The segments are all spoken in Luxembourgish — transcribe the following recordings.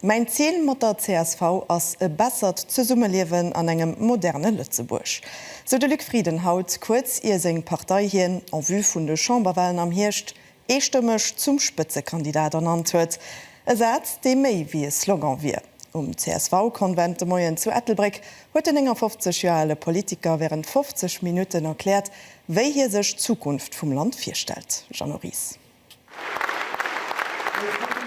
Mäin Zil mat der csv ass e bessert Zesummeliewen an engem moderne Lëtzebuerg, sou de Luc Frieden haut, kuerz ier seng Partei hien, en vue vun de Chamberwahlen am Hierscht, eestëmmeg zum Spëtzekandidat ernannt huet. E Saz, dee méi wéi e Slogan wier. Um CSV-Konvent de Moien zu Ettelbréck huet den 59 Joer ale Politiker wärend 50 Minutten erkläert, wéi hie sech d'Zukunft vum Land virstellt. Jeannot Ries.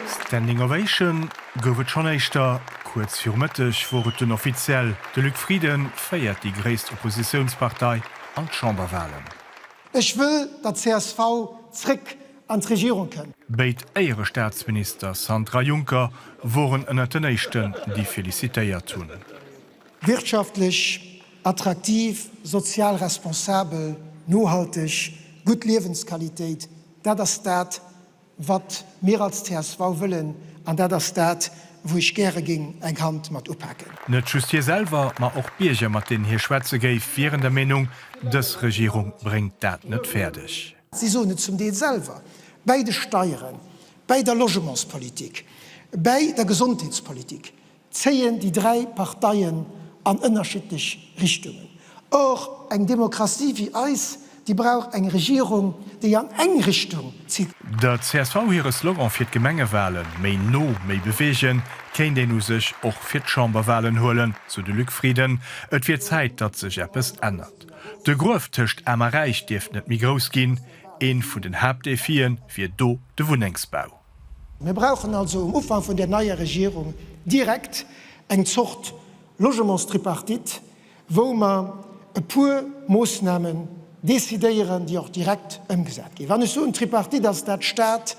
Standing Ovation gouf et schonn éischter. Kuerz viru Mëtteg wor et dunn offiziell, de Luc Frieden féiert déi gréisst Oppositiounspartei an d'Chamberwahlen. Ech wëll, datt csv zréck an d'Regierung kënnt. Béid Éierestaatsminister Santer a Juncker woren ënnert den éischten, déi felicitéiert hunn. Wirtschaftlech Attraktiv, sozial responsabel, nohalteg, gutt Liewensqualitéit, dat ass dat, wat mir als csv wëllen, an dat ass dat, wou ech gäre géing eng Hand mat upaken. Net just hie selwer, ma och d'Bierger, mat deenen hie schwätze géif, wieren der Meenung, dës Regierung bréngt dat net fäerdeg. Si soen et zum Deel selwer, bäi de Steieren, bäi der Logementspolitik, bäi der Gesondheetspolitik, zéien déi dräi Parteien an ënnerschiddlech Richtungen. Och eng Demokratie wéi eis, déi brauch eng Regierung, déi an eng Richtung zitt. Der csv hire Slogan fir d'Gemengewalen, Méi no, méi beweegen, kéint een u sech och fir d'Chamberwalen huelen, sou de Luc Frieden. Et wier Zäit, datt sech eppes ännert. De Gruef tëscht Aarm a Räich dierft net méi grouss ginn. Ee vun den Haaptdefie wier do de Wunnengsbau. Mir brauchen also um Ufank vun där neier Regierung direkt eng Zort Logementstripartite, wou mer e puer Moosnamen decidéieren, déi och direkt ëmgesat ginn. Wann ech soen Tripartite, ass dat Stat,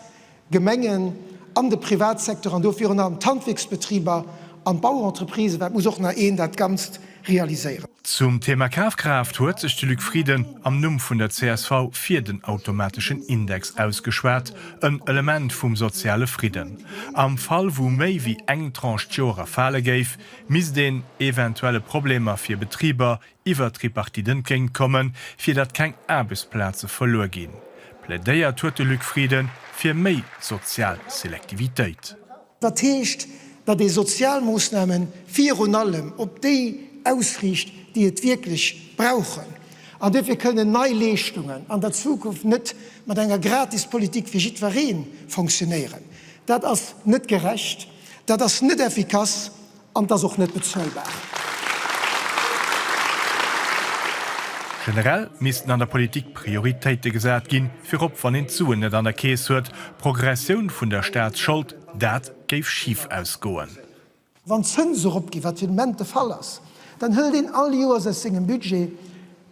Gemengen an de Privatsecteur, an do virun allem d'Handwierksbetriber an d'Bauentreprisë, well et muss och nach een dat Ganzt realiséieren. Zum Thema Kafkraaft huet sech de Luc Frieden am Numm vun der csv fir den automateschen Index ausgeschwat, en Element vum soziale Fridden. Am Fall wou méi wéi eng Tranche d'Joer erfale géif, misst een eventuelle Problemer fir Betriber iwwer d'Tripartite entgéint kommen, fir datt keng Aarbechtsplaze verluer ginn. Plädéiert huet de Luc Frieden fir méi sozial Selektivitéit. Dat heescht, datt ee Sozialmoossname virun allem op déi ausriicht, déi et wierklech brauchen. An duerfir kënnen nei Leeschtungen an der Zukunft net mat enger Gratispolitik fir jiddweree fonctionnéieren. Dat ass net gerecht, dat ass net effikass An et ass och net bezuelbar. Generell missten an der Politik Prioritéite gesat ginn, virop wann een d'Suen net an der Keess huet. Progressioun vun der Staatsschold, dat géif schif ausgoen. Wann d'Zënse eropginn, wat fir den Moment de Fall ass, dann hëlt een all Joers aus sengem Budget,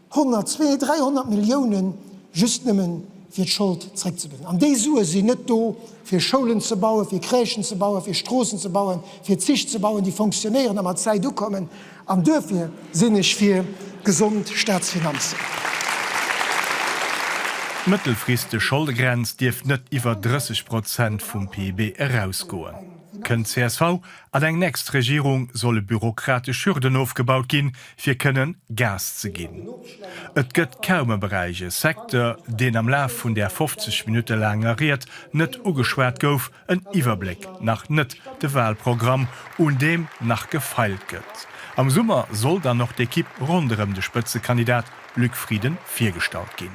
100, 200, 300 Milliounen just nëmmen, fir d'Schold zréckzebezéien. An déi Sue sinn net do, fir Schoulen ze bauen, fir Crèchen ze bauen, fir Stroossen ze bauen, fir Zich ze bauen, déi fonctionnéieren a mat Zäit ukommen. An duerfir sinn ech fir gesond Staatsfinanzen. D'mëttelfristeg Scholdegrenz dierf net iwwer 30 Prozent vum PIB erausgoen. Kënnt d'CSV an eng nächst Regierung, solle bürokratesch Hürden ofgebaut ginn, fir kënnen Gas ze ginn. Et gëtt kaum e Beräich, e Secteur, deen am Laf vun där 50 Minutte laanger Ried net ugeschwat gouf, en Iwwerbléck nach net, de Wahlprogramm, un deem nach gefeilt gëtt. Am Summer soll dann och d'Ekipp ronderëm de Spëtzekandidat Luc Frieden virgestallt ginn.